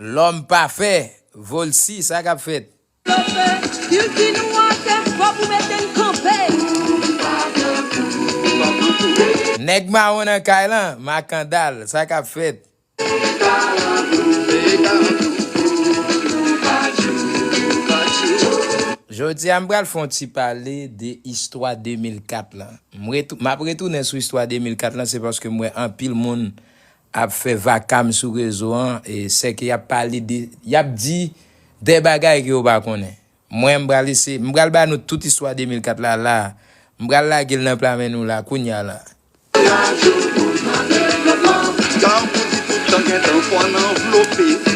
Lòm pafè, Volcy sa kap fèt? Pafè, Kilti nou atè, fò pou mete n kanpe. Nou pa pran kou, nou pa pran kou wi. Nèg mawon nan kay lan, Makandal sa kap fèt? Veye kalankou, veye kalankou pou nou pa tjou, pou nou pa tjou. Jodi a m pral fon ti pale de istwa 2004 lan. M ret, map retounen sou istwa 2004 lan se paske m wè anpil moun ap fè vakam sou rezo an sèke yap pale de yap di dè bagay ke yo pa konnen mwen m pral ese m pral ba nou tout istwa 2004 la la m pral lage l nan pla men nou la kounya la.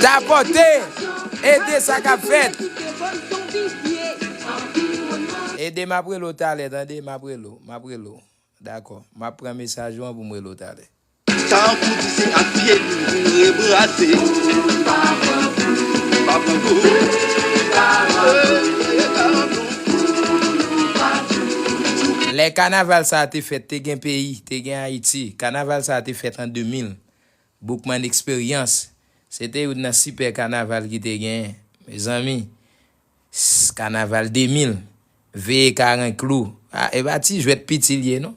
Tapote! Ede sa kap fèt! Ede map rele w talè tande map rele w map rele w dakò map pran mesaj ou an pou m rele w talè. Tankou di se ak pye nou pou n rebrase. Pou n pa pran kou. Pou n pa pran kou. Dèyè karanbouk. Dèyè karanbouk. Pou nou pa toujou. Lè kanaval sa a te fèt te gen peyi, te gen Ayiti. Kanaval sa a te fèt an 2000. Boukman Eksperyans, se te youn nan sipè kanaval ki te genyen. Mezanmi, Ss kanaval 2000 veye karen klou ah epa ti jwèt piti liye non.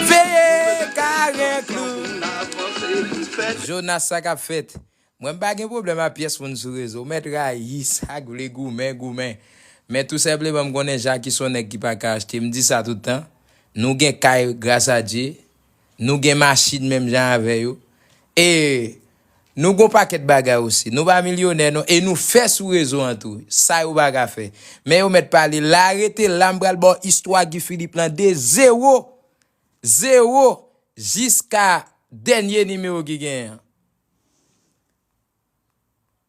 Veye karen klou Jonas sa kap fèt Mwen m pa gen pwoblèm a pyès moun sou rezo mèt rayi sak vle goumen goumen men tou senpleman m konnen Jacky son nèg ki paka achte m di sa tout tan nou gen kay gras a Dye nou gen machin menm jan avè yo e Nou gon pakèt bagay osi. Nou pa milyonè non e nou fè sou rezo an tou. Sa yo pa ka fè. Men yo mèt pale la rete la m pral ba w istwa Guy Philippe lan de zewo zewo jiska dènye nimewo ki genyen an.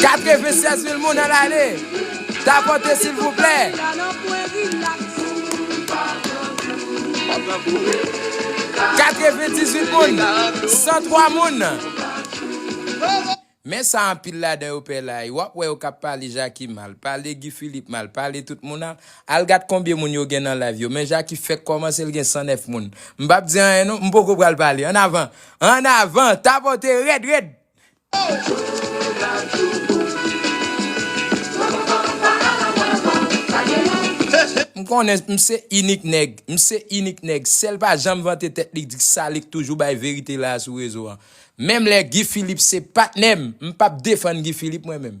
96 mil moun nan lane Tapote silvouplè Katre ven dizwit moun San twa moun Men sa anpil ladan yo pè la y wap wè yo kap pale jaki mal pale Guy Philippe mal pale tout moun al al gad konbyen moun yo gen nan live yo men jaki fèk kòmanse l gen 109 moun m pap di anyen non m poko pral pale an avan An avan, tapote red red! M konnen m se inik nèg, m se inik nèg, sèl pa janm vante tèt li di sa li k toujou bay verite la a sou rezo an. Menm lè Guy Philippe se patnè m, m pap defann Guy Philippe mwen menm.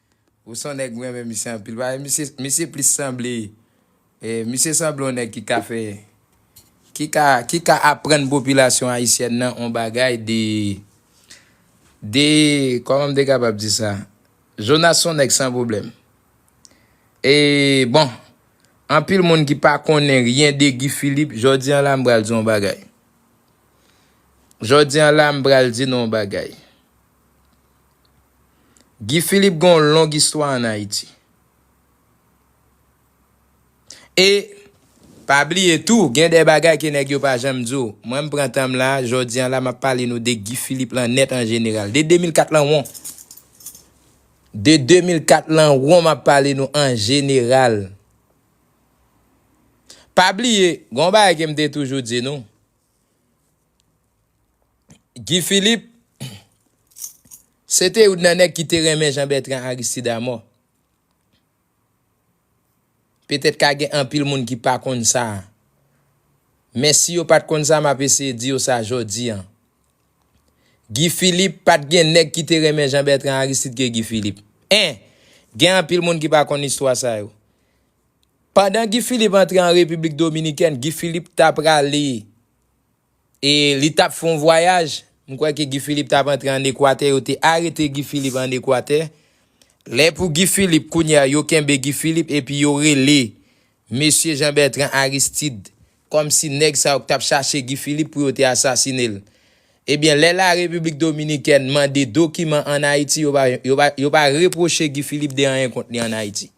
Ou son nèg m renmen misye anpil paske misye misye plis sanble misye sanble yon nèg ki ka fè ki ka ki ka aprann popilasyon ayisyèn nan yon bagay de de kòman m te kapab di sa Jonas son nèg san pwoblèm e bon anpil moun ki pa konnen ryen de Guy Philippe jodi an la m pral di yon bagay jodi an la m pral di nou yon bagay. Guy Philippe gen yon long istwa an Ayiti. E, pa bliye tou, gen de bagay ke nèg yo pa janm di w. Mwen m pran tan m la, jodi an la m ap pale nou de Guy Philippe lan nèt an jeneral. De 2004 lan won. De 2004 lan won m ap pale nou an jeneral. Pa bliye, gen yon bagay ke m te toujou di nou. Guy Philippe se te youn nan nèg ki te renmen Jean Bertrand Aristide a mò. Petèt ka gen anpil moun ki pa konn sa. Men si yo pat konn sa map eseye di yo sa jodi an. Guy Philippe pat gen nèg ki te renmen Jean Bertrand Aristide ke Guy Philippe. 1. Gen anpil moun ki pa konn istwa sa yo. Pandan Guy Philippe antre an Repiblik Dominikèn, Guy Philippe ta prale e li tap fè yon vwayaj, m kwè ke Guy Philippe tap antre an Ekwatè, yo te arete Guy Philippe an Ekwatè. Lè pou Guy Philippe, kounye a yo kenbe Guy Philippe epi yo rele Mesye Jean Bertrand Aristide kòm si nèg sa yo k tap chache Guy Philippe pou yo te asasine l. Ebyen lè la Repiblik Dominikèn mande dokiman an Ayiti yo pa yo pa repwoche Guy Philippe de anyen kont li an Ayiti.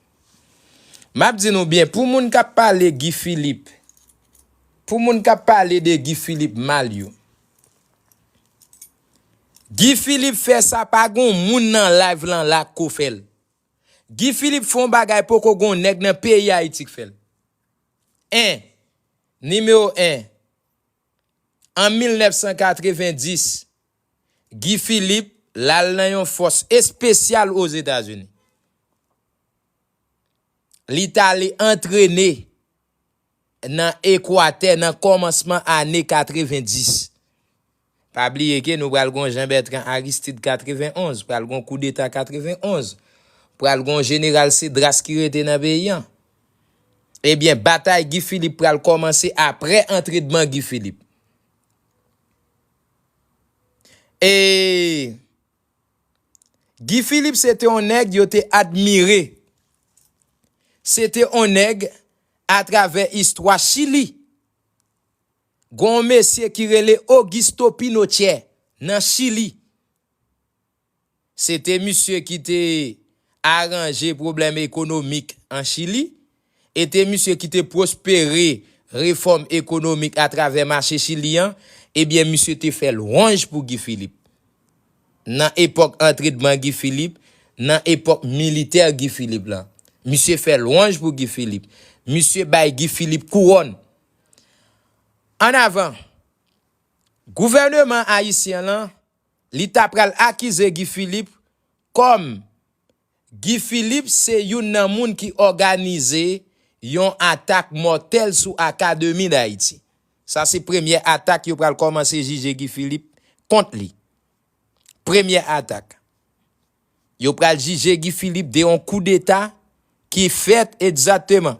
Map di nou byen pou moun kap pale Guy Philippe pou moun kap pale de Guy Philippe mal yo Guy Philippe fè sa pa gon moun nan live lan la k ko fèl Guy Philippe fè yon bagay poko gon nèg nan peyi Ayiti k fèl 1 nimewo 1 an 1990 Guy Philippe lal nan yon fòs espesyal Ozetazini. Li tale antrene nan Ekwatè nan kòmansman ane 90. Pa bliye ke nou pral gon Jean Bertrand Aristide 91, pral gon koudeta 91, pral gon Jeneral Cedras ki rete nan peyi an. Ebyen batay Guy Philippe pral kòmanse apre antredman Guy Philippe. Eeeee! Guy Philippe se te yon nèg yo te admire. Se te yon nèg atravè istwa Chili. Gon yon mesye ki rele Augusto Pinochet nan Chili. Se te misye ki te aranje pwoblèm ekonomik an Chili, e te misye ki te pwospere refòm ekonomik atravè mache Chili an, ebyen misye te fè lwanj pou Guy Philippe. Nan epòk antredman Guy Philippe, nan epòk militè Guy Philippe lan, misye fè lwanj pou Guy Philippe. Misye bay Guy Philippe kouwòn. Ann avan! Gouvèneman ayisyen lan Li ta pral akize Guy Philippe kòm Guy Philippe se youn nan moun ki òganize yon atak mòtèl sou Akademi Dayiti. Sa se premyè atak yo pral kòmanse jije Guy Philippe kont li. Premyè atak. Yo pral jije Guy Philippe de yon koudeta ki fèt egzateman.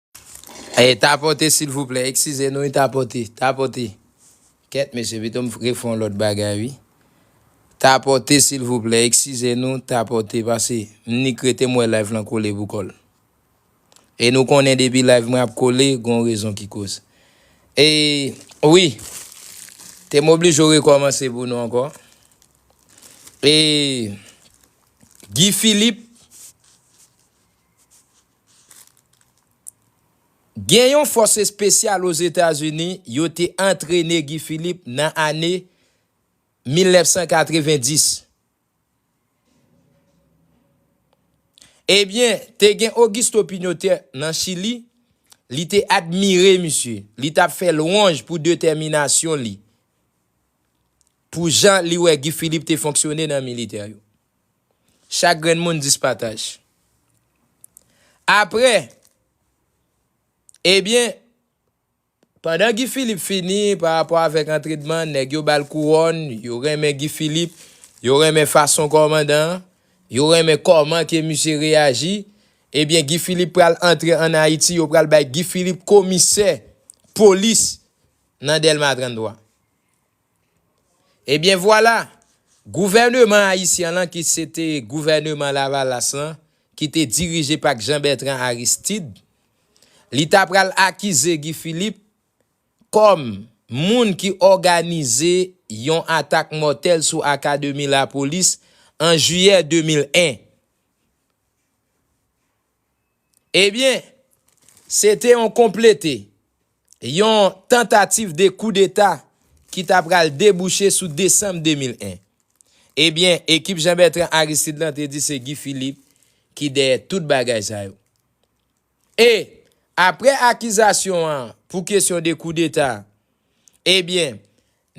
Ey tapote silvouplè eksize nou wi tapote tapote kèt mesye pito m refè yon lòt bagay wi tapote silvouplè eksize nou tapote pase m nik rete m wè live lan kole pou kòl e nou konnen depi live mwen ap kole gon rezon ki koz e wi te m oblije w rekòmanse pou nou ankò e Guy Philippe Gen yon fòs espesyal Ozetazini yo te antrene Guy Philippe nan ane 1990. Ebyen, te gen Augusto Pinochet nan Chili, li te admire misye, li t ap fè lwanj pou detèminasyon li, pou jan li wè Guy Philippe te fonksyone nan militè yo. Chak grenn moun 10 pataj. Apre, ebyen, pandan Guy Philippe fini pa rapò avèk antredman, nèg yo bal kouròn, yo renmen Guy Philippe, yo renmen fason kòmandan an, yo renmen kòman ke misye reyaji, ebyen Guy Philippe pral antre an Ayiti, yo pral bay Guy Philippe komisè polis nan Dèlma 33. Ebyen vwala! Gouvèneman ayisyan lan ki se te gouvèneman lavalas lan ki te dirije pak Jean Bertrand Aristide, li ta pral akize Guy Philippe kòm moun ki òganize yon atak mòtèl sou akademi lapolis an jiyè 2001. Ebyen, se te yon konplete, yon tantativ de koudeta ki ta pral debouche sou desanm 2001. Ebyen, ekip Jean Bertrand Aristide lan te di se Guy Philippe ki dèyè tout bagay sa yo. E, apre akizasyon an pou kesyon de koudeta, ebyen,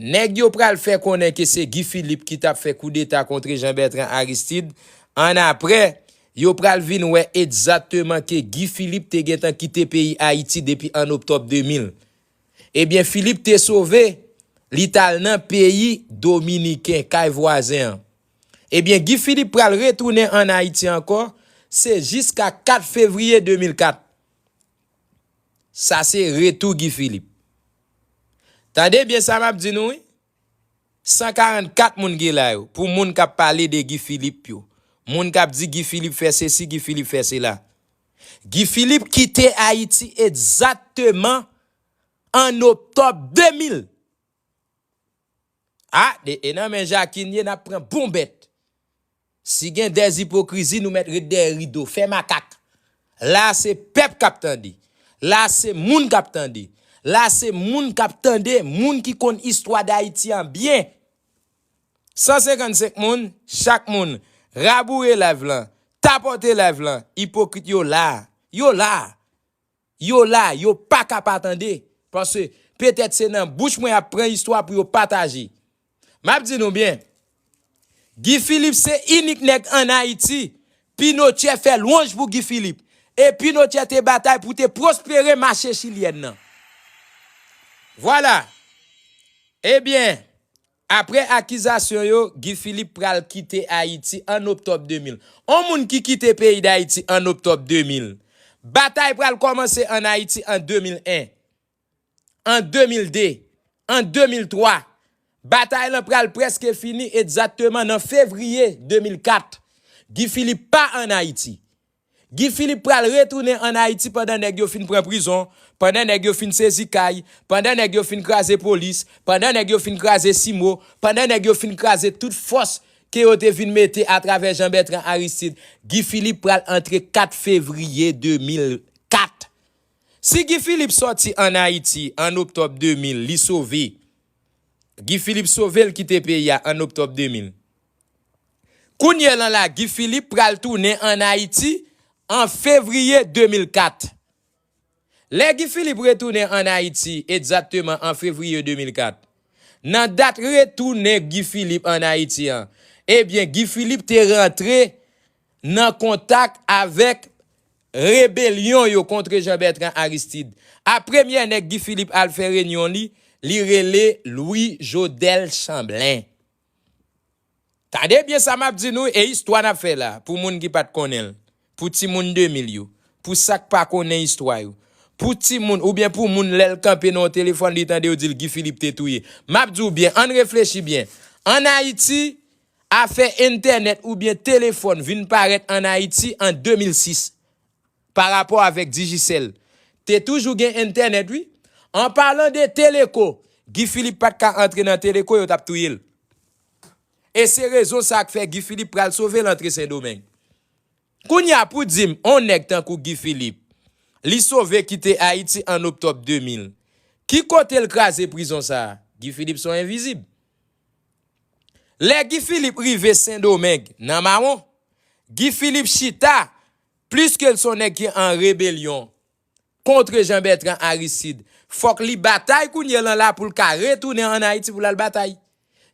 Nèg yo pral fè konnen ke se Guy Philippe ki tap fè koudeta kontre Jean Bertrand Aristide, an aprè, yo pral vin wè ekzateman ke Guy Philippe te gentan kite peyi Ayiti depi an Oktòb 2000. Ebyen Philippe te sove, li tal nan peyi Dominiken, kay vwazen an. Ebyen Guy Philippe pral retounen an Ayiti ankò, se jiska 4 fevriye 2004. Sa se retou Guy Philippe. Tande byen sa map di nou wi, 144 moun ki la yo, pou moun kap pale de Guy Philippe yo, moun kap di Guy Philippe fè sesi, Guy Philippe fè sela. Guy Philippe kite Ayiti egzakteman an Oktòb 2000. Ah de e nan men Jacquine ye nap pran bon bèt si gen des ipokrizi nou mèt ret dèyè rido fè makak la a se pèp kap tande la a se moun kap tande la a se moun kap tande moun ki konn istwa dayiti an byen 155 moun chak moun raboure live lan tapote live lan ipokrit yo la a yo la a. Yo la, yo pa ka pa tande, paske petèt se nan bouch mwen y ap pran istwa pou yo pataje. M ap di nou byen, Guy Philippe se inik nèg ann Ayiti, Pinochet fè lwanj pou Guy Philippe, e Pinochet te batay pou te pwospere mache chilyèn nan. Vwala! Ebyen, Aprè akizasyon yo, Guy Philippe pral kite Ayiti an Oktòb 2000. On moun ki kite peyi Dayiti an Oktòb 2000. Batay pral kòmanse an Ayiti an 2001. An 2002. An 2003. Batay lan pral prèske fini egzatteman nan Fevriye 2004. Guy Philippe pa an Ayiti. Guy Philippe pral retounen an Ayiti pandan nèg yo fin pran prizon, pandan nèg yo fin sezi kay, pandan nèg yo fin kraze polis, pandan nèg yo fin kraze CIMO, pandan nèg yo fin kraze tout fòs ke yo te vin mete atravè Jean Bertrand Aristide. Guy Philippe pral antre 4 fevriye 2004. Si Guy Philippe sòti an Ayiti an oktòb 2000, li sove. Guy Philippe sove l kite peyi a an oktòb 2000. Kounyè lan la Guy Philippe pral tounen an Ayiti an fevriye 2004. Lè Guy Philippe retounen an Ayiti egzatteman an fevriye 2004. Nan dat retounen Guy Philippe an Ayiti an, ebyen Guy Philippe te rantre nan kontak avèk rebelyon yo kontre Jean Bertrand Aristide. A premyè nèg Guy Philippe al fè renyon li, li rele Louis Jodel Chamblin. Tande byen sa map di nou e istwa nap fè la pou moun ki pat konnenl, pou timoun 2000 yo, pou sak pa konnen istwa yo, pou timoun oubyen pou moun lèl kanpe nan yon telefòn li tande yo dil Guy Philippe te touye. Map diw byen ann reflechi byen, an Ayiti afè entènèt oubyen telefòn vin parèt an Ayiti an 2006. Pa rapò avèk Digicel. Te toujou gen entènèt wi. An palan de Teleco, Guy Philippe pat ka antre nan Teleco yo tap touye l. E se rezon sa k fè Guy Philippe pral sove l antre Sendomeng. Kounye a pou di m on nèg tankou Guy Philippe, li sove kite Ayiti an Oktòb 2000, ki kote l kraze prizon sa a? Guy Philippe son envizib. Lè Guy Philippe rive Sendomeng nan mawon, Guy Philippe chita Pliske l son nèg ki an rebelyon kontre Jean Bertrand Aristide, fòk li batay kounye lan la pou l ka retounen an Ayiti pou l al batay.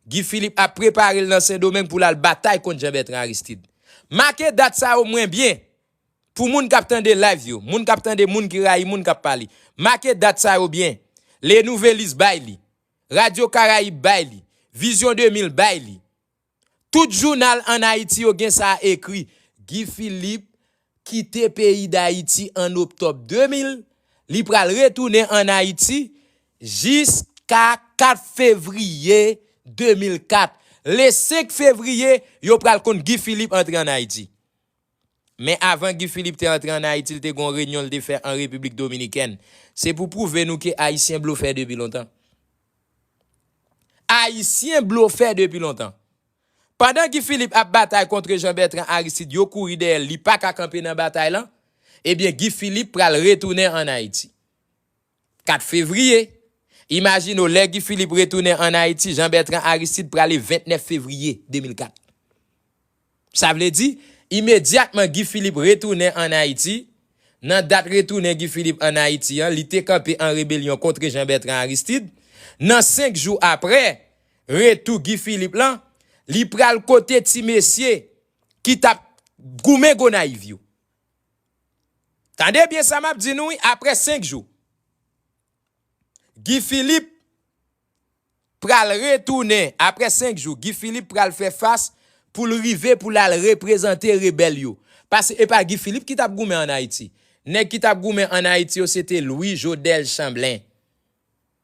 Guy Philippe ap prepare l nan Sendomeng pou l al batay kont Jean Bertrand Aristide. Make dat sa o mwen byen, pou moun k ap tande live yo, moun k ap tande moun ki rayi moun k ap pale. Make dat sa yo byen. Le Nouvelliste bay li. Radio Caraïbes bay li. Vision 2000 bay li. Tout jounal an Ayiti yo gen sa ekri, Guy Philippe kite peyi Dayiti an Oktòb 2000, li pral retounen an Ayiti jiska 4 fevriye 2004. Le 5 fevriye, yo pral konn Guy Philippe antre an Ayiti. Men avan Guy Philippe te antre an Ayiti l te gon renyon l te fè an Repiblik Dominikèn. Se pou pwouve nou ke Ayisyen blofè depi lontan. Ayisyen blofè depi lontan. Pandan Guy Philippe ap batay kontre Jean Bertrand Aristide yo kouri dèyè l li pa ka kanpe nan batay lan, ebyen Guy Philippe pral retounen an Ayiti. 4 fevriye, Imajine w lè Guy Philippe retounen an Ayiti, Jean Bertrand Aristide prale 29 fevriye 2004. Sa vle di, imedyatman Guy Philippe retounen an Ayiti, nan dat retounen Guy Philippe an Ayiti an, li te kanpe an rebelyon kontre Jean Bertrand Aristide, nan 5 jou apre retou Guy Philippe lan, li pral kote ti mesye ki t ap goumen Gonayiv yo. Tande byen sa map di nou wi aprè 5 jou Guy Philippe pral retounen aprè 5 jou Guy Philippe pral fè fas poul rive poul al reprezante rebèl yo pase epa Guy Philippe ki tap goumen an Ayiti nèg ki tap goumen an Ayiti yo se te Louis Jodel Chamblin.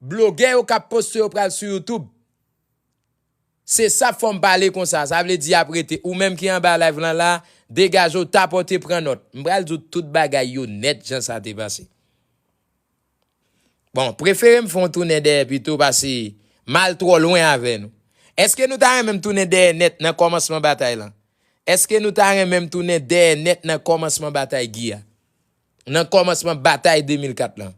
Blogè yo kap poste yo pral sou YouTube. Se sa fòm pale konsa, sa vle di yap rete. Ou menm ki anba live lan la, degaje w tapote pran nòt. M pral di w tout bagay yo nèt jan sa te pase. Bon, prefere m fè yon tounen dèyè pito pase m al twò lwen avè nou. Eske nou ta renmen m tounen dèyè nèt nan kòmansman batay lan? Eske nou ta renmen m tounen dèyè nèt nan kòmansman batay Guy a? nan kòmansman batay 2004 lan.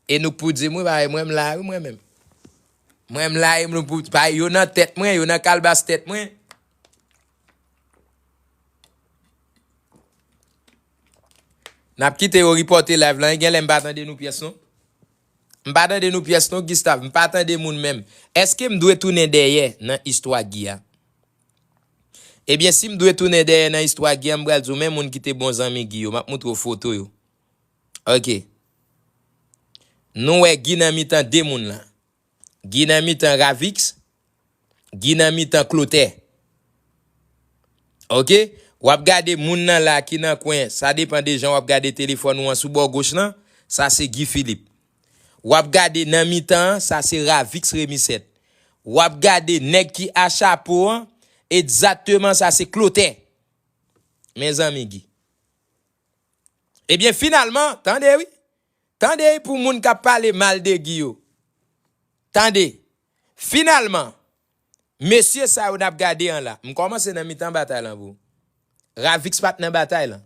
E nou k pou di m wi bagay mwen m la wi mwen menm. Mwen m la e nou pou pa yo nan tèt mwen, yo nan kalbas tèt mwen. N ap kite yo ripòte live lan, gen lè m pa tande nou pyès non. M pa tande nou pyès non Gustave, m pa tande moun menm. Eske m dwe tounen dèyè nan istwa Guy a? Ebyen si m dwe tounen dèyè nan istwa Guy an m pral di w men moun ki te bon zanmi Guy yo, m ap montre w foto yo. Ok. Nou wè Guy nan mitan 2 moun lan. Guy nan mitan Ravix, Guy nan mitan Clothè. Ok. W ap gade moun nan la ki nan kwen, sa depan de jan w ap gade telefòn ou an sou bò goch lan, sa se Guy Philippe. Wap gade nan mitan an sa se Ravix Remisset. Wap gade nèg ki a chapo an ekzatteman sa se Clothè. Mezanmi Guy. Ebyen finalman, tande wi. Tande pou moun kap pale mal de Guy yo. Tande. Finalman, mesye sa yo nap gade an la, m kòmanse nan mitan batay lan pou. Ravix pat nan batay lan.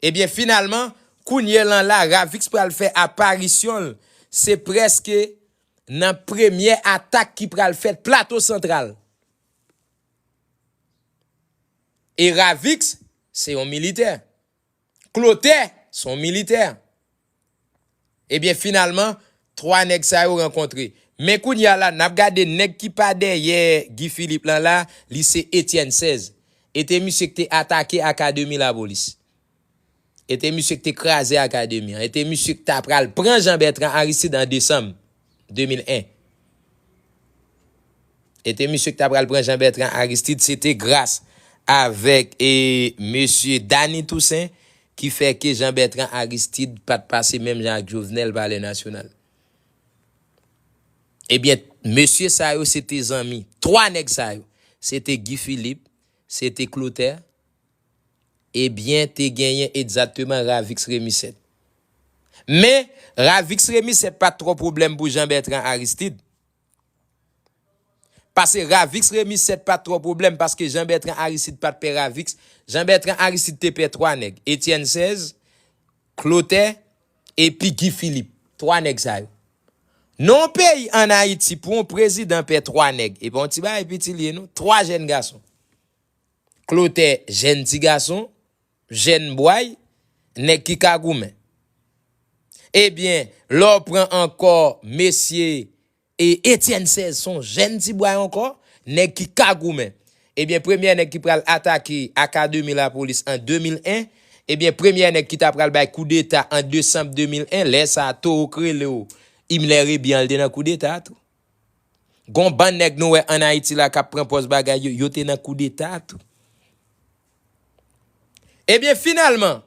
Ebyen finalman kounye lan la Ravix pral fè aparisyon l se prèske nan premyè atak ki pral fèt Plato Santral. E Ravix se yon militè. Clotaire son militè. Ebyen finalman 3 nèg sa yo rankontre. Men kounye a la nap gade nèg ki pa dèyè Guy Philippe lan la, li se Etienne 16. E te misye ki te atake akademi lapolis. E te misye ki te kraze akademi an. E te misye ki ta pral pran Jean Bertrand Aristide an desanm. 2001 e te misye ki ta pral pran Jean-Bertrand Aristide se te gras avèk e mesye Dany Toussaint ki fè ke Jean-Bertrand Aristide pat pase menm jan ak Jovenel Palè Nasyonal e byen mesye sa yo se te zanmi 3 nèg sa yo se te Guy Philippe se te Clotaire. Ebyen te genyen egzakteman Ravix Remusèt. Men, Ravix Remusèt pa t twò pwoblèm pou Jean Bertrand Aristide. Pase Ravix Remusèt pa t twò pwoblèm paske Jean Bertrand Aristide pa t pè Ravix. Jean Bertrand Aristide te pè 3 nèg, Etienne Sèz, Klotè, epi Guy Philippe. 3 nèg sa yo. Nan yon peyi an Ayiti pou yon prezidan pè 3 nèg, e pa yon ti bagay piti li ye non. 3 jèn gason. klotè jèn ti gason, jèn bway, nèg ki ka goumen. Ebyen, lè w pran ankò mesye Etienne 16 s on jèn ti bway ankò, nèg ki ka goumen. Ebyen premyè nèg ki pral atake akademi lapolis an 2001, ebyen premyè nèg ki ta pral bay koudeta an desanm 2001, lè sa a Towo k rele w Imler Rebian l te nan koudeta a tou. Gon bann nèg nou wè an Ayiti la kap pran pòz bagay yo, yo te nan koudeta tou. Ebyen finalman,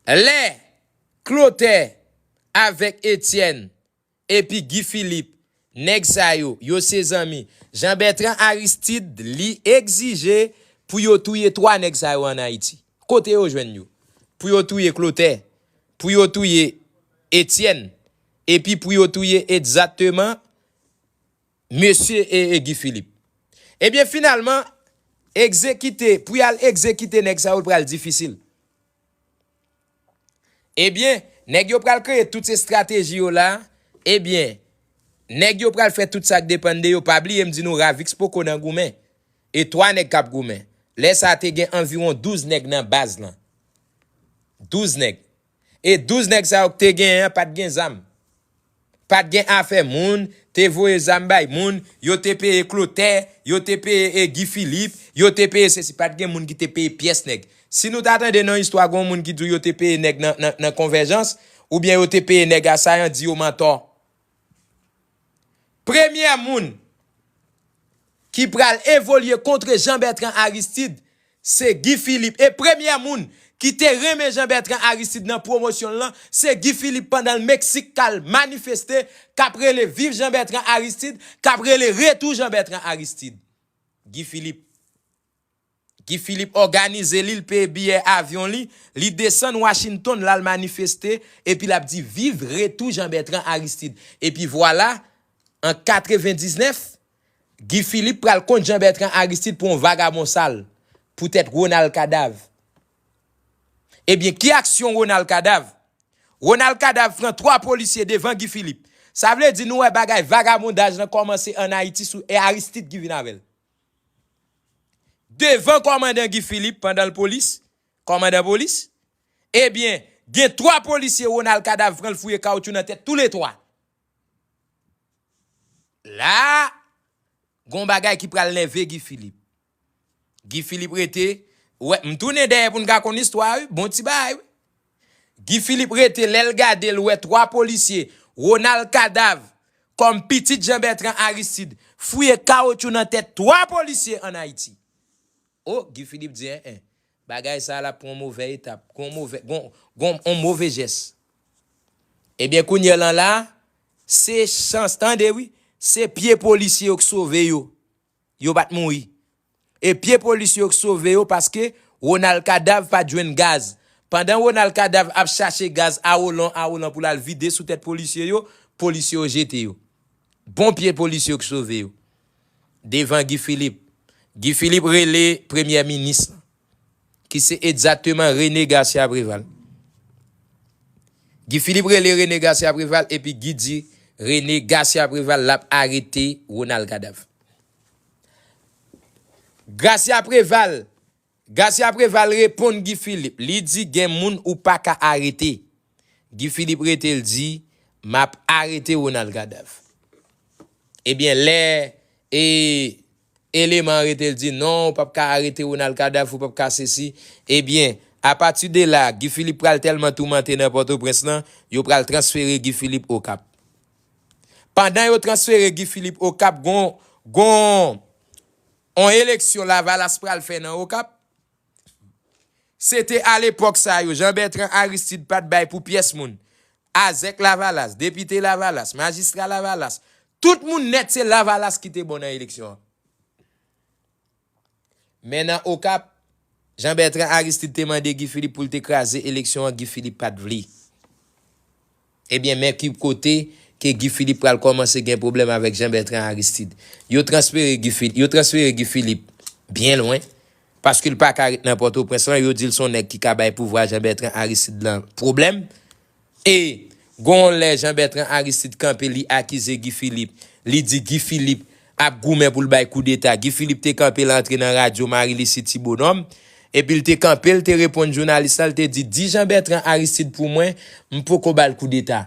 lè Klotè avèk Etyèn epi Gi Filip, nèg sa yo, yo se zanmi, Jan Bètran Aristid li egzije pou yo touye 3 nèg sa yo an Ayiti. Kote yo jwenn yo? Pou yo touye Klotè, pou yo touye Etyèn. Epi pou yo touye egzateman mesye Guy Philippe. Ebyen finalman egzekite pou y al egzekite nèg sa yo l pral difisil. Ebyen nèg yo pral kreye tout estrateji yo la, ebyen nèg yo pral fè tout sa k depann de yo, pa bliye m di nou Ravix poko nan goumen, e 3 nèg k ap goumen. Lè sa te gen anviwon 12 nèg nan baz lan. 12 nèg. E 12 nèg sa yo k te genyen an pat gen zam. Pat gen afè moun te voye zam bay moun, yo te peye Klotè, yo te peye Guy Philippe, yo te peye sesi, pat gen moun ki te peye pyès nèg. Si nou ta tande nan istwa gon moun ki di w yo te peye nèg nan konvèjans, oubyen yo te peye nèg asayan di yo mantò. Premyè moun ki pral evolye kontre Jean Bertrand Aristide se Guy Philippe e premyè moun ki te renmen Jean Bertrand Aristide nan pwomosyon l lan se Guy Philippe pandan l Meksik k al manifeste k ap rele viv Jean Bertrand Aristide k ap rele retou Jean Bertrand Aristide Guy Philippe. Guy Philippe òganize li, l peye biyè avyon li, li desann Washington l al manifeste epi l ap di viv retou Jean Bertrand Aristide. Epi vwala, an 99, Guy Philippe pral kont Jean Bertrand Aristide pou yon vagabon sal, poutèt Ronald Kadav. Ebyen, ki aksyon Ronald Kadav? Ronald Kadav pran 3 polisye devan Guy Philippe. Sa vle di nou wè bagay vagabondaj lan kòmanse an Ayiti sou e Aristide ki vin avè l. Devan kòmandan Guy Philippe pandan l polis, kòmandan polis, ebyen gen 3 polisye Ronald Kadav pran l fouye kawoutchou nan tèt toule 3. La a, gon bagay ki pral nève Guy Philippe. Guy Philippe rete, wè, m tounen dèyè pou n ka konn istwa a wi, bon ti bagay wi. Guy Philippe rete lèl gade l wè 3 polisye Ronald Kadav kòm pitit Jean Bertrand Aristide fouye kawotchou nan tèt 3 polisye an Ayiti. O Guy Philippe di en en bagay sa lap pran on movè etap gon movè gon gon on move jès. Ebyen kounyè lan la se chans tande wi se pye polisye yo k sove yo. Yo pat mouri. E pye polis yo k sove yo paske Ronald Kadav pat jwenn gaz. Pandan Ronald Kadav ap chache gaz awolan awolan pou l al vide sou tèt polisye yo, polisye yo jete yo. Bon pye polis yo k sove yo. Devan Guy Philippe. Guy Philippe rele premyè minis lan. ki se egzateman Rene Gasya Preval. Guy Philippe rele Rene Gasya Preval epi Guy di Rene Gasya Preval l ap arete Ronald Kadav. Gasya Preval Gasya Preval reponn Guy Philippe, li di gen moun ou pa ka arete. Guy Philippe rete l di m ap arete Ronald Kadav. Ebyen lè e. eleman arete l di non ou pap ka arete Ronald Cadáff ou pap ka sesi ebyen apati de la Guy Philippe pral tèlman toumante nan Pòtoprens lan yo pral transfere Guy Philippe Okap pandan yo transfere Guy Philippe Okap gon gon on eleksyon Lavalas pral fè nan Okap. Se te a lepòk sa yo, Jan Bètran Aristid pa t bay pou pyès moun. Azèk Lavalas, depite Lavalas, majistra Lavalas, tout moun nèt se Lavalas ki te bon nan eleksyon an. Men nan Okap, Jan Bètran Aristid te mande Guy Philippe pou l te kraze eleksyon an, Guy Philippe pa t vle. Ebyen men ki kote ke Guy Philippe pral kòmanse gen pwoblèm avèk Jean Bertrand Aristide. Yo transfere Guy Philippe, yo transfere Guy Philippe byen lwen, paske l pa ka ret nan Pòtoprens lan, yo di l s on nèg ki ka bay pouvwa Jean Bertrand Aristide lan pwoblèm. E gon lè Jean Bertrand Aristide kanpe li akize Guy Philippe, li di Guy Philippe ap goumen pou l bay koudeta. Guy Philippe te kanpe l antre nan radyo Marie Lucie Ti Bonòm, epi l te kanpe l te reponn jounalis la l te di, di Jean Bertrand Aristide pou mwen m poko ba l koudeta.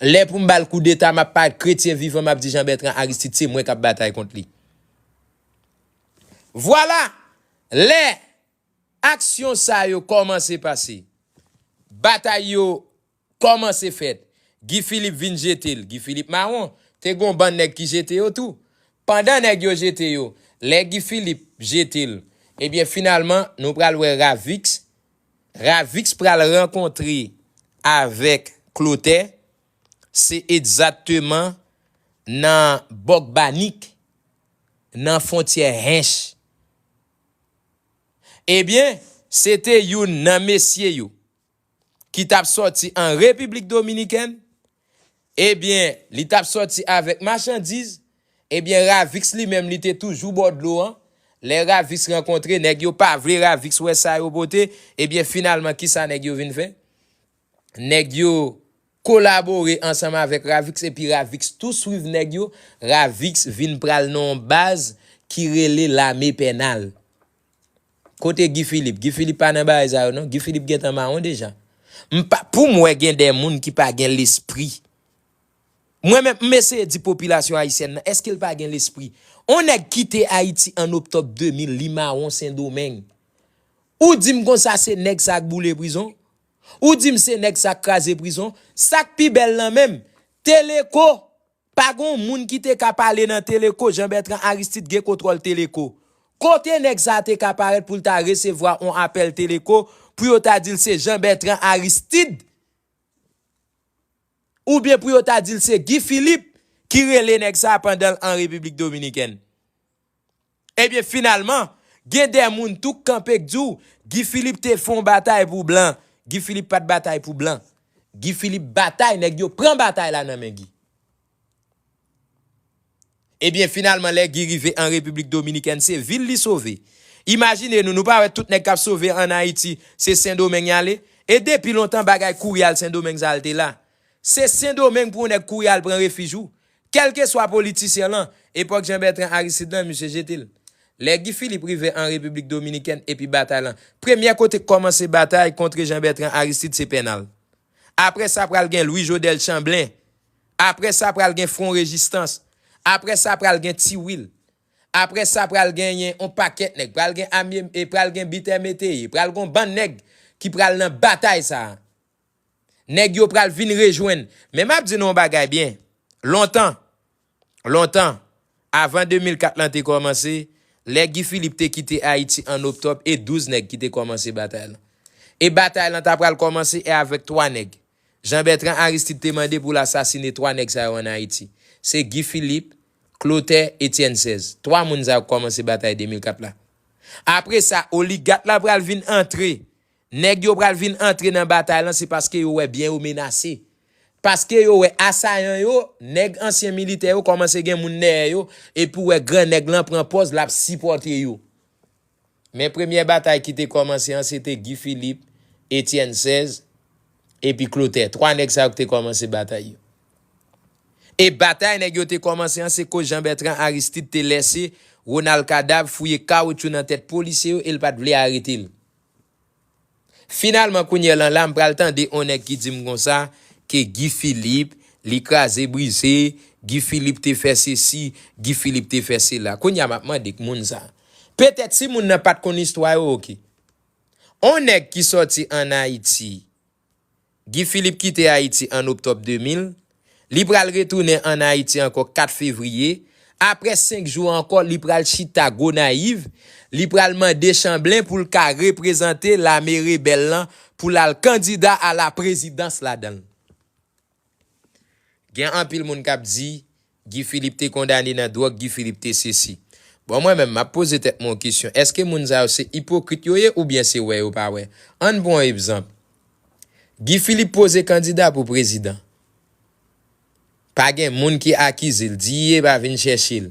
Lè pou m ba l koudeta m ap pa kretyen vivan m ap di Jean Bertrand Aristide se mwen k ap batay kont li. Vwala, lè aksyon sa yo kòmanse pase, batay yo Kòman se fèt? Guy Philippe vin jete l. Guy Philippe mawon. Te gen yon bann nèg ki jete yo tou. Pandan nèg yo jete yo, lè Guy Philippe jete l, ebyen finalman nou pral wè Ravix. Ravix pral rankontre avèk Clotaire. Se egzatteman nan Bòkbanik, nan fontyè Hinche. Ebyen, se te youn nan mesye yo ki t ap sòti an Repiblik Dominikèn, ebyen li t ap sòti avèk machandiz, ebyen Ravix li menm li te toujou bò dlo an, lè Ravix rankontre nèg yo pa vle Ravix wè sa yo pote, ebyen finalman kisa nèg yo vin fè? Nèg yo Kolabore ansanm avèk Ravix epi Ravix tou swiv nèg yo, Ravix vin pral nan yon baz ki rele lame pènal. Kote Guy Philippe? Guy Philippe pa nan bagay sa yo non, Guy Philippe gentan mawon deja. M pa, pou m wè gen de moun ki pa gen lespri. Mwen menm, m eseye di popilasyon ayisyèn nan, èske l pa gen lespri? On nèg kite Ayiti an Oktòb 2000, li mawon Sendomeng. Ou di m konsa se nèg sa k boule prizon? Ou dim se nèg sak kraze prizon, sak pi bèl lan menm, Teleco! Pa gon moun ki te ka pale nan Teleco, Jean Bertrand Aristide gen kontwòl Teleco. Kote nèg sa te ka parèt poul ta resevwa on apèl Teleco pou yo ta dil se Jean Bertrand Aristide oubyen pou yo ta dil se Guy Philippe ki rele nèg sa pandanl an Repiblik Dominikèn? Ebyen finalman, gen de moun tou k kanpe k di w, Guy Philippe te fon batay pou blan. Guy Philippe pat batay pou blan. Guy Philippe batay, nèg yo pran batay la nan men Guy. Ebyen finalman lè Guy rive an Repiblik Dominikèn se vil li sove. Imajine nou, nou pa wè tout nèg k ap sove an Ayiti se Sendomeng y ale? E depi lontan bagay kouri al Sendomeng sa l te la. Se sendomeng pou yon nèg kouri al pran refij ou. Kèlkeswa politisyen lan, epòk Jean Bertrand Aristide lan, misye jete l. Lè Guy Philippe rive an Repiblik Dominikèn epi batay lan, premyè kote k kòmanse batay kontre Jean Bertrand Aristide se Pènal. Aprè sa pral gen Louis Jodel Chanblen. Aprè sa pral gen Fwon Rejistans. Aprè sa pral gen Ti Wil. Aprè sa pral genyen yon pakèt nèg. Pral gen Amie, pral gen Bitè Meteye. Pral gen yon bann nèg ki pral nan batay sa a. Nèg yo pral vin rejwenn. Men map di nou yon bagay byen. Lontan, lontan, avan 2004 lan te kòmanse, lè Guy Philippe te kite Ayiti an Oktòb e 12 nèg ki te kòmanse batay lan. E batay lan ta pral kòmanse e avèk 3 nèg. Jean Bertrand Aristide te mande pou l asasine 3 nèg sa yo an Ayiti. Se Guy Philippe, Clotaire, Etienne 16. 3 moun sa yo k kòmanse batay 2004 la. Apre sa, oligat la pral vin antre Nèg yo pral vin antre nan batay lan se paske yo wè byen yo menase. Paske yo wè asayan yo, nèg ansyen militè yo kòmanse gen moun dèyè yo epi ou wè gran nèg lan pran pòz lap sipòte yo. Men premyè batay ki te kòmanse an se te Guy Philippe, Etienne 16 epi Clotaire. 3 nèg sa yo ki te kòmanse batay yo. E batay nèg yo te kòmanse an se koz Jean Bertrand Aristide te lèse Ronald Cadavre fouye kawotchou nan tèt polisye yo e l pat vle arete l. Finalman kounyè lan la m pral tande on nèg ki di m konsa ke Guy Philippe li kraze brize, Guy Philippe te fè sesi, Guy Philippe te fè sela. Kounyè a m ap mande k moun sa. Petèt si moun nan pa t konn istwa yo ok. On nèg ki sòti an Ayiti Guy Philippe kite Ayiti an Oktòb 2000, li pral retounen an Ayiti ankò 4 Fevriye, aprè 5 jou ankò li pral chita Gonayiv, li pral mande Chanblen pou l ka reprezante lame rebèl lan pou l al kandida a la prezidans ladan l. Gen anpil moun kap di Guy Philippe te kondane nan dròg Guy Philippe te sesi. Bon mwen menm map poze tèt mwen yon kesyon eske moun sa yo se ipokrit yo ye oubyen se wè yo pa wè. Ann pran yon ebzanp Guy Philippe poze kandida pou prezidan pa gen moun ki akize l di ye pa vin chèche l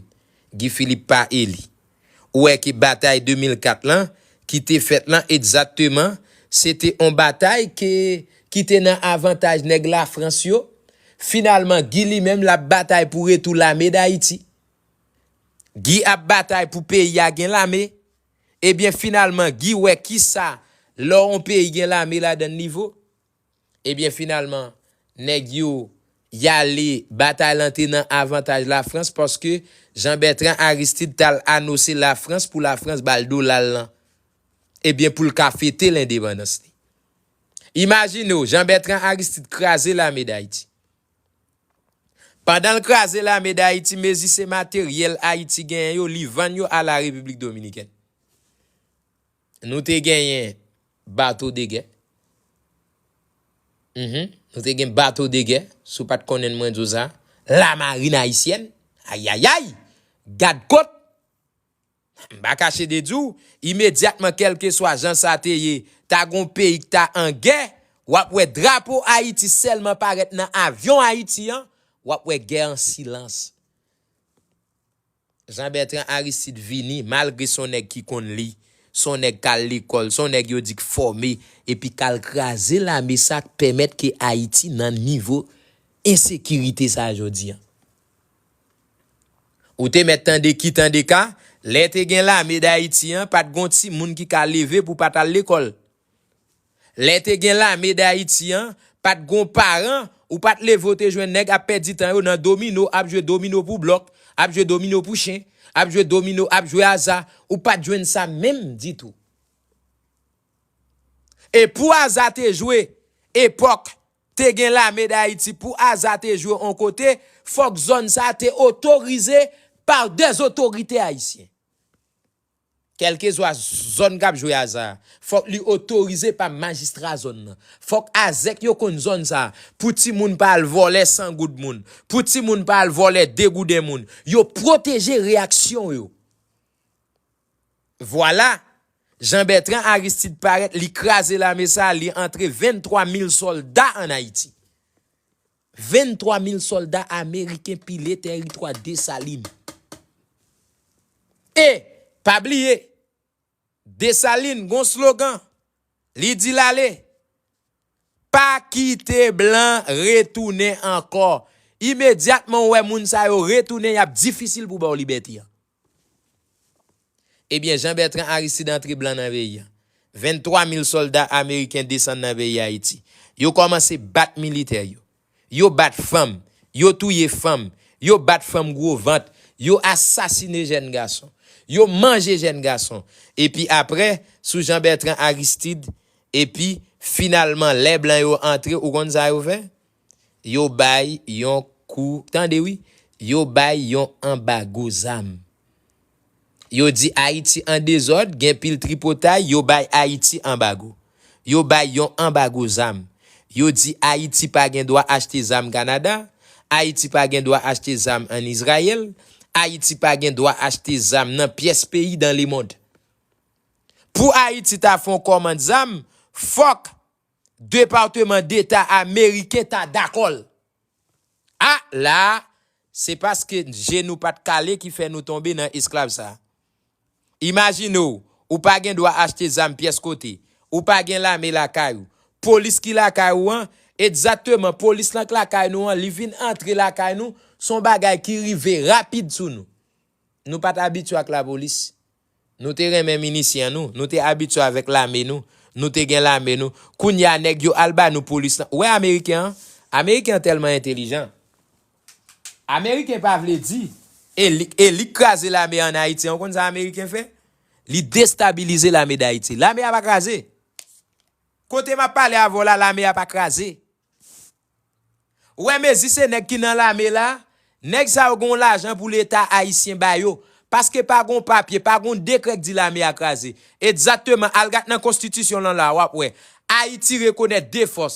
Guy Philippe pa eli Ou wè ke batay 2004 lan, ki te fèt lan egzakteman, se te on batay ke, ki te nan avantaj nèg Lafrans yo. Finalman, Guy li menm, l ap batay pou retou lame Dayiti. Guy ap batay pou peyi a gen lame. Ebyen, finalman, Guy wè ki sa lò on peyi gen lame ladan li vo. Ebyen finalman nèg yo yale batay lan te nan avantaj lafrans paske Jean Bertrand Aristide tal anose lafrans pou lafrans bal dolal lan ebyen poul ka fete lendepandans li. Imajinew Jean Bertrand Aristide kraze lame dayiti. Pandanl kraze lame dayiti mezi se materyèl ayiti genyen yo li vann yo a la repiblik dominikèn. Nou te genyen bato degè. Mph. Nou te gen bato degè, si w pa t konnen mwen di w sa. Lamarin ayisyèn. Ayayay! Gadkot! M pa kache de di w, imedyatman kèlkeswa jan sa te ye, ta gen yon peyi ki ta an gè, w ap wè drapo Ayiti sèlman parèt nan avyon Ayiti an, w ap wè gè an silans. Jean Bertrand Aristide vini, malgre son nèg ki konn li, son nèg kal lekòl, son nèg yo di k fòme, epi kal kraze lame sa k pèmèt ke Ayiti nan nivo ensekirite sa jodi an. Ou te mèt tande ki tande ka, lè te gen lame Dayiti an, pat gon timoun ki ka leve pou pat al lekòl. Lè te gen lame dayiti an, pat gon paran ou pat leve ou te jwenn nèg ap pèdi tan yo nan domino ap jwe domino pou blòk, ap jwe domino pou chen, ap jwe domino ap jwe aza, ou pat jwenn sa menm ditou. E pou aza te jwe epòk te gen lame dayiti pou aza te jwe on kote fòk zòn sa te otorize par des otorite ayisyen. Kèlkezwa zòn k ap jwe aza a, fòk li otorize pa majistra zòn nan. Fòk azèk yo konn zòn sa a, pou timoun pa al vòlè 100 goud moun, pou timoun pa al vòlè 2 gouden moun. Yo pwoteje reyaksyon yo. Vwala, Jean Bertrand Aristide parèt, li kraze lame sa a, li antre 23 mil sòlda ann Ayiti. 23 mil sòlda ameriken pile tèritwa Desalin. E, pa bliye, Desalin gon slogan, li di l ale, Pa kite blan retounen ankò. Imedyatman ou wè moun sa yo retounen y ap difisil pou ba w libète an. Ebyen Jean Bertrand Aristide antre blan nan peyi an. 23 mil solda ameriken desann nan peyi Ayiti. Yo komanse bat militè yo. Yo bat fanm. Yo touye fanm. Yo bat fanm gwo vant. Yo asasine jèn gason. Yo manje jèn gason. Epi apre, sou Jean Bertrand Aristide, epi finalman lè blan yo antre ou konn sa yo fè? Yo bay yon kou tande wi yo bay yon anbago zam yo di ayiti an dezòd gen pil tripotay yo bay ayiti anbago yo bay yon anbago zam yo di ayiti pa gen dwa achte zam kanada ayiti pa gen dwa achte zam an izrayèl ayiti pa gen dwa achte zam nan pyès peyi dan lemond pou ayiti ta fon kòmand zam fòk Departement d'Etat ameriken ta dakò l. A la a, se paske je nou pat kale ki fè nou tonbe nan esklav sa. Imajine w, ou pa gen dwa achte zam pyès kote, ou pa gen lame lakay ou, polis ki lakay ou an, egzakteman polis lan k lakay nou an, li vin antre lakay nou, s on bagay ki rive rapid sou nou. Nou pat abitye ak lapolis. Nou te renmen minisyen nou, nou te abitye avèk lame nou, nou te gen lame nou, kounye a nèg yo al ba nou polis lan, ou wè ameriken an, ameriken an tèlman entelijan, ameriken pa vle di, e li, e li k kraze lame an ayiti an, ou konn sa ameriken fè? Li destabilize lame dayiti, lame a pa kraze! Kote m ap pale avè w la lame a pa kraze, W wè mezi se nèg ki nan lame la, nèg sa yo gen yon lajan pou leta ayisyen ba yo, paske pa gen yon papye, pa gen yon dekrè k di lame a kraze. Ekzakteman, al gad nan konstitisyon lan la, w ap wè, Ayiti rekonèt 2 fòs,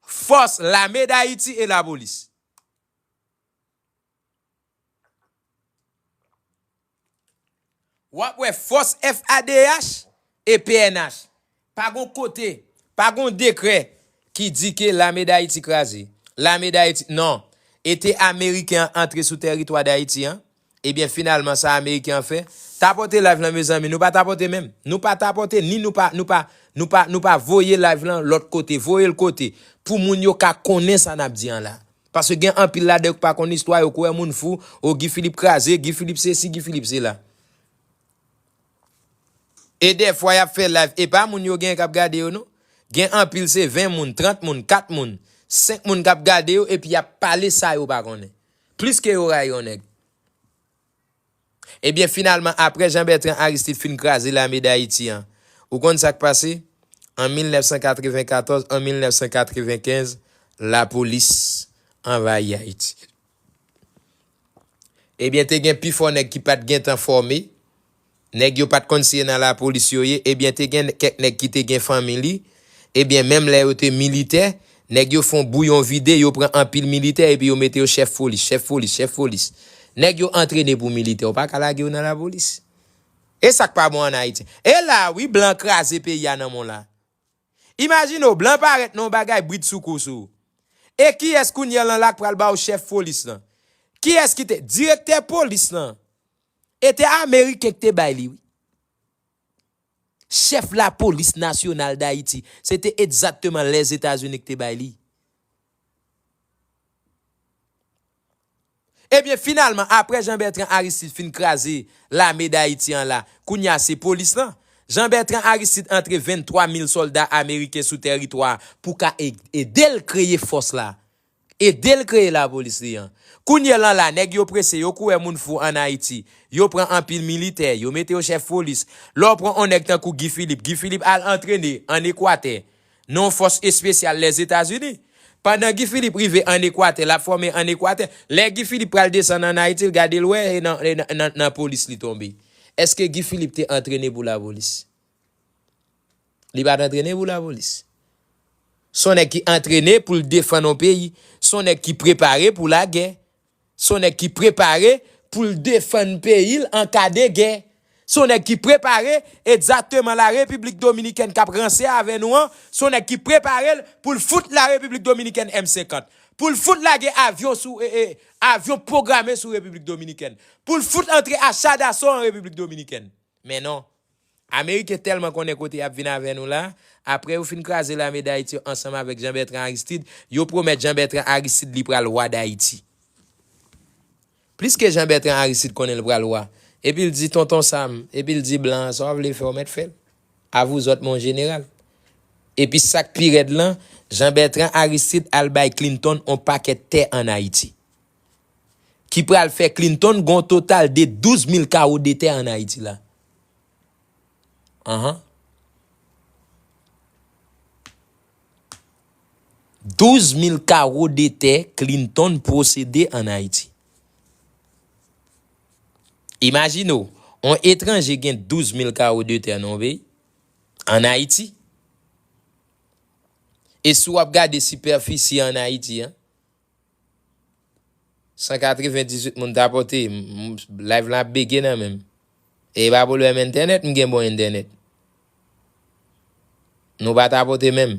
fòs lame dayiti e lapolis. Wap wè fòs FADH e pnh. Pa gon kote, pa gon dekrè ki di ke lame Dayiti kraze. Lame Dayiti, non. E te ameriken an antre sou tèritwa Dayiti an? Ebyen finalman sa ameriken an fè? Tapote live lan mezanmi, nou pa tapote menm. Nou pa tapote ni nou pa, nou pa, nou pa, nou pa voye live lan lòt kote. Voye l kote pou moun yo ka konnen sa nap di an la. Paske gen anpil ladan yo ki pa konn istwa, yo kwè moun fou, oh Guy Philippe kraze, Guy Philippe sesi, Guy Philippe sela. E dèfwa yap fè live e pa moun yo genyen kap gade yo non. Gen anpil se 20 moun, 30 moun, 4 moun, 5 moun kap gade yo epi yap pale sa yo pa konnen. Plis ke yo rayi yon nèg. Ebyen finalman apre Jean Bertrand Aristide fin kraze lame Dayiti an, ou konn sa k pase? An 1994, an 1995, lapolis anvayi Ayiti. Ebyen te gen pi fò nèg ki pa t gen tan fòme, nèg yo pa t konn si e nan lapolis yo ye, ebyen te gen kèk nèg ki te gen fanmi li, Ebyen menm lè yo te militè, nèg yo fon bouyon vide yo pran anpil militè epi yo mete yo chèf polis, chèf polis, chèf polis. Nèg yo antrene pou militè ou pa ka lage yo nan lapolis. E sak pa bon an Ayiti. E la a wi blan kraze peyi a nan men w la. Imajine w blan parèt nan yon bagay bridsoukou sou ou. E kiyès kounyè lan la k pral ba w chèf polis lan? Kiyès ki te direktè polis lan e te ameriken k te bay li wi. Chèf lapolis nasyonal Dayiti, se te egzakteman Lèzetazini k te bay li. Ebyen finalman apre Jean Bertrand Aristide fin kraze lame Dayiti an la, kounye a se polis lan. Jean Bertrand Aristide antre 23 mil sòlda ameriken sou tèritwa pou ka ede l kreye fòs la. Edel kreye la polis li an. Kounye lan la neg yo prese yo kouwè moun fou an ayiti yo pran anpil militè yo mete yo chef polis lè w pran on neg tankou Guy Philippe Guy Philippe al antrene an ekwatè nan on fos espesyal les etats unis pandan Guy Philippe rive an ekwatè lap fome an ekwatè lè Guy Philippe pral desann an ayiti l gade l wè e nan e nan nan polis li tonbe eske Guy Philippe te antrene pou la polis. Li pat antrene pou lapolis. Se yon nèg ki antrene pou l defann yon peyi. Se yon nèg ki prepare pou lagè. Se yon nèg ki prepare pou l defann peyi l an ka de gè. Se yon nèg ki prepare ekzakteman la Repiblik Dominikèn k ap ranse avè nou an, se yon nèg ki prepare l pou l fout la Repiblik Dominikèn M 50. Pou l fout lage avyon sou, avyon pwograme sou Repiblik Dominikèn. Pou l fout antre acha daso an Repiblik Dominikèn. Men non. Ameriken tèlman konnen kote y ap vin avè nou la, apre yo fin kraze lame Dayiti yo ansanm avèk Jan Bètran Aristid, yo pwomèt Jan Bètran Aristid li pral wa Dayiti. Pliske Jan Bètran Aristid konnen l pral wa, epi l di Tonton Sam, epi l di blan an sa w vle fè w mèt fè l. Avouzòt mon jeneral. Epi sa k pi rèd lan, Jan Bètran Aristid al bay Clinton on pakèt tè an Ayiti. ki pral fè Clinton gon total de 12 mil kawo de tè an Ayiti la. Anhan. 12 mil kawo de tè Clinton pwosede an Ayiti. Imajine w, on etranje gen 12 mil kawo de tè nan on peyi, an Ayiti. E si w ap gade sipèfisi an Ayiti an, 198 moun tapote live lan ap bege nan menm e pa pwoblèm entènèt m gen bon entènèt nou pa tapote menm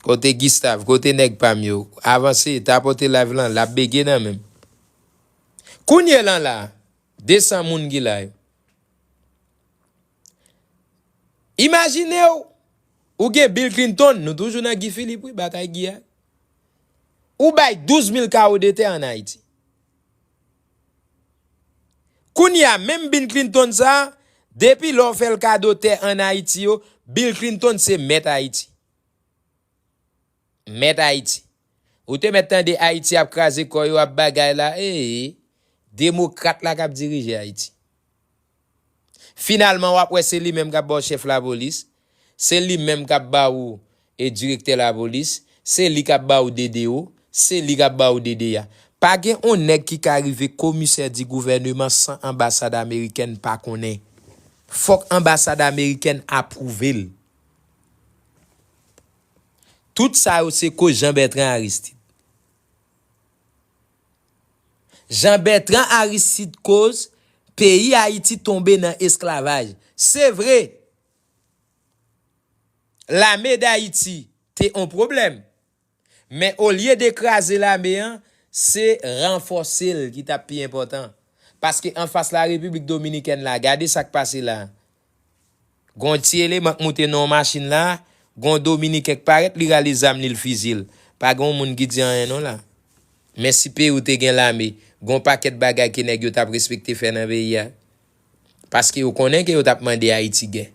kote Gustave kote nèg pam yo avanse tapote live lan lap bege nan menm kounye lan la 200 moun ki la yo. Imajinew ou gen Bill Clinton, nou toujou nan Guy Philippe wi, batay Guy a. Ou bay 12 mil kawo de tè an Ayiti. Kounye a menm Bill Clinton sa, depi lè w fè l kado tè an Ayiti yo, Bill Clinton se mèt Ayiti. Mèt Ayiti. Ou te mèt tande Ayiti ap kraze kò yo ap bagay la ee. Demokrat la kap dirije Ayiti. Finalman wap wè se li menm kap ba w chèf lapolis, se li menm kap ba ou direktè lapolis, se li kap ba ou DDO, se li kap ba ou DDA. Pa gen on nèg ki ka rive komisè di gouvèneman san anbasad amerikèn pa konnen. Fòk anbasad amerikèn apwouve l. Tout sa yo se koz Jean Bertrand Aristide. Jean Bertrand Aristide koz peyi Ayiti tonbe nan esklavaj. Se vre, lame dAyiti te on pwoblèm, men olye de kraze lame an, se ranfòse l ki tap pi enpòtan. Paske anfas la Repiblik Dominikèn la, gade sak pase la. Gon yon ti eleman k moute nan yon machin la, gon yon dominiken k parèt li rale zam li l fiziye l. Pa gen yon moun ki di anyen non la. Men si peyi w te gen lame, gen yon pakèt bagay ke nèg yo t ap respekte fè nan peyi a. Paske yo konnen ke yo t ap mande Ayiti gè.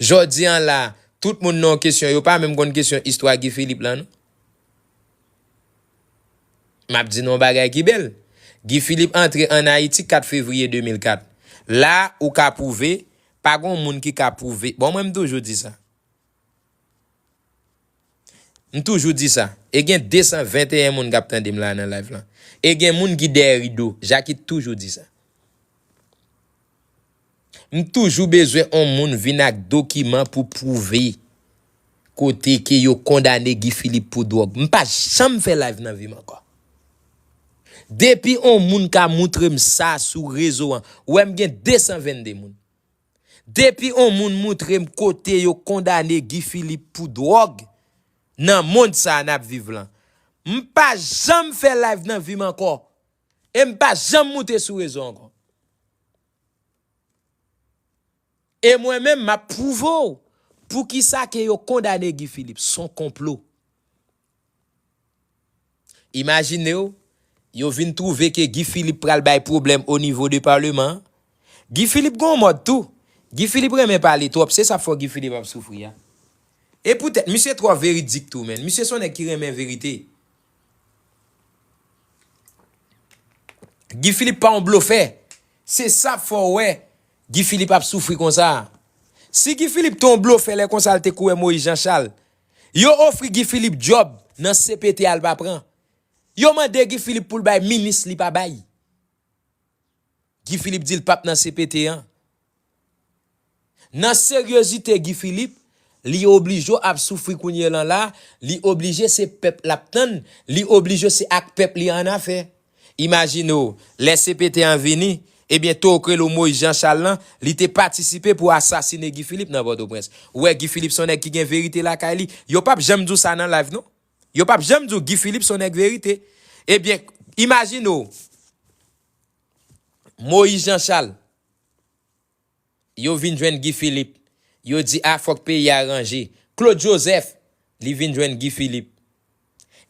Jodi an la, tout moun nan yon kesyon, yo pa menm konn kesyon istwa Guy Philippe lan non. M ap di nou yon bagay ki bèl. Guy Philippe antre ann Ayiti 4 fevriye 2004. La a, ou ka pwouve, pa gon moun ki ka pwouve, bon mwen m toujou di sa. M toujou di sa. E gen 221 moun k ap tande m la a nan live lan. E gen moun ki dèyè rido. Jacky toujou di sa. M toujou bezwen on moun vin ak dokiman pou pwouve kote ke yo kondane Guy Philippe pou dwòg. M pa janm fè live nan vi m ankò. Depi on moun ka moutre m sa sou rezo an, ou wè m gen 222 moun. Depi on moun moutre m kote yo kondane Guy Philippe pou dwòg nan mond sa n ap viv lan. M pa janm fè live nan vi m ankò. E m pa janm moute sou rezo ankò. E mwen menm map prouve w poukisa ke yo kondane Guy Philippe, son konplo. Imajine w, yo vin trouve ke Guy Philippe pral bay pwoblèm o nivo de parleman an. Guy Philippe gon w mòd tou, Guy Philippe renmen pale twòp, se sa fò Guy Philippe ap soufri a. E poutèt misye twò veridik tou menn, misye son nèg ki renmen verite. Guy Philippe pa yon blofè. Se sa k fè w wè Guy Philippe ap soufri konsa a. Si Guy Philippe te yon blofè lè konsa l te kouwè Moïse Jean Charles. Yo ofri Guy Philippe djòb nan cpt a l pa pran. Yo mande Guy Philippe pou l bay minis li pa bay. Guy Philippe di l pap nan cpt an. Nan seryozite Guy Philippe, li oblije ap soufri kounye lan la, li oblije se pèp l ap tann, li oblije se ak pèp li annafè. Imajine w, lè cpt an vini, ebyen tokrelo Moise Jean Charles lan, li te patisipe pou asasine Guy Philippe nan Pòtoprens. Ou wè Guy Philippe s on nèg ki gen verite lakay li. Yo pap janm di w sa nan live non. Yo pap janm di w Guy Philippe s on nèg verite. Ebyen, imajine w. Moïse Jean Charles yo vin jwenn Guy Philippe yo di a fòk peyi a ranje Claude Joseph li vin jwenn Guy Philippe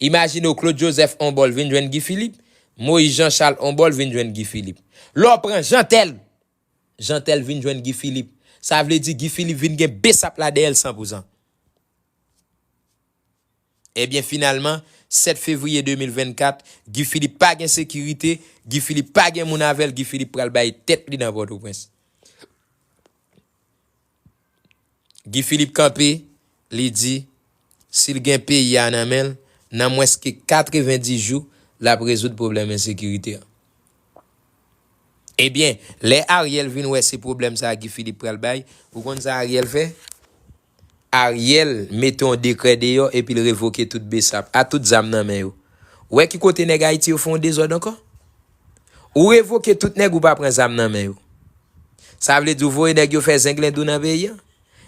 imajine w Claude Joseph on bò l vin jwenn Guy Philippe Moïse Jean Charles on bò l vin jwenn Guy Philippe lè w pran Jeantel Jeantel vin jwenn Guy Philippe sa vle di Guy Philippe vin gen bsap la dèyè l sanpouzan. Ebyen finalman, 7 fevriye 2024, Guy Philippe pa gen sekirite, Guy Philippe pa gen moun avè l, Guy Philippe pral bay tèt li nan Pòtoprens. Guy Philippe kanpe, li di, si l gen peyi a nan men l, nan mwens ke 90 jou, l ap rezoud pwoblèm ensekirite a. Ebyen, lè Ariel vin wè se pwoblèm sa a Guy Philippe pral bay, ou konn sa Ariel fè? Ariel mete yon dekrè deyò epi l revoke tout bsap a tout zam nan men yo. Ou wè ki kote nèg Ayiti yo fè yon dezòd ankò? Ou revoke tout nèg ou pa pran zam nan men yo. Sa vle di ou voye nèg yo fè zenglendou nan peyi an?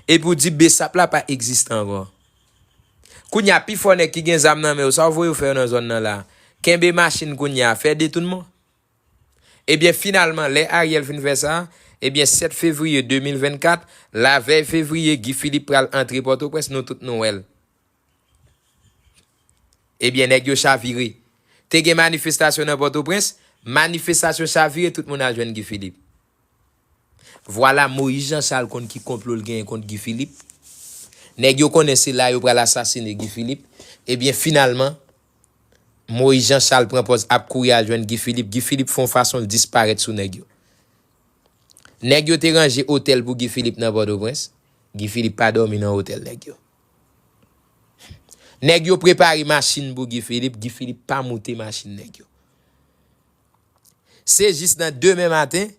Epi ou di bsap la pa egziste ankò. Kounye a pifò nèg ki gen zam nan men yo sa ou voye yo fè yo nan zòn nan la a? Kenbe machin kounye a, fè detounman? Ebyen finalman lè Ariel fin fè sa, ebyen 7 fevriye 2024, la vèy fevriye Guy Philippe pral antre Pòtoprens nou tout nou wèl. Ebyen nèg yo chavire. Te gen manifestasyon nan Pòtoprens, manifestasyon chavire tout moun al jwenn Guy Philippe. Vwala Moïse Jean Charles konn ki konplo l genyen kont Guy Philippe. Nèg yo konnen se la yo pral asasine Guy Philippe. Ebyen finalman, Moïse Jean Charles pran pòz ap kouri al jwenn Guy Philippe. Guy Philippe fè yon fason l disparèt sou nèg yo. Nèg yo te ranje otèl pou Guy Philippe nan Pòtoprens. Guy Philippe pa dòmi nan otèl nèg yo. Nèg yo prepare machin pou Guy Philippe. Guy Philippe pa moute machin nèg yo. Se jis nan demen maten,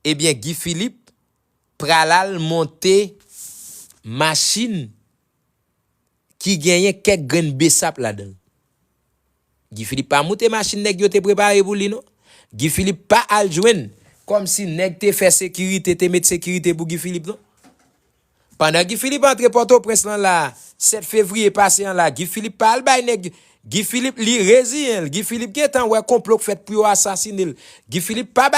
ebyen Guy Philippe pralal monte machin ki genyen kèk grenn besap ladanl. Guy Philippe pa moute machin nèg yo te prepare pou li non. Guy Philippe pa al jwenn kòmsi nèg te fè sekirite, te met sekirite pou Guy Philippe non. Pandan Guy Philippe antre Pòtoprens lan la 7 fevriye pase an la Guy Philippe pa al bay nèg Guy Philippe li reziyen l Guy Philippe gentan wè konplo k fèt pou yo asasine l Guy Philippe pa bay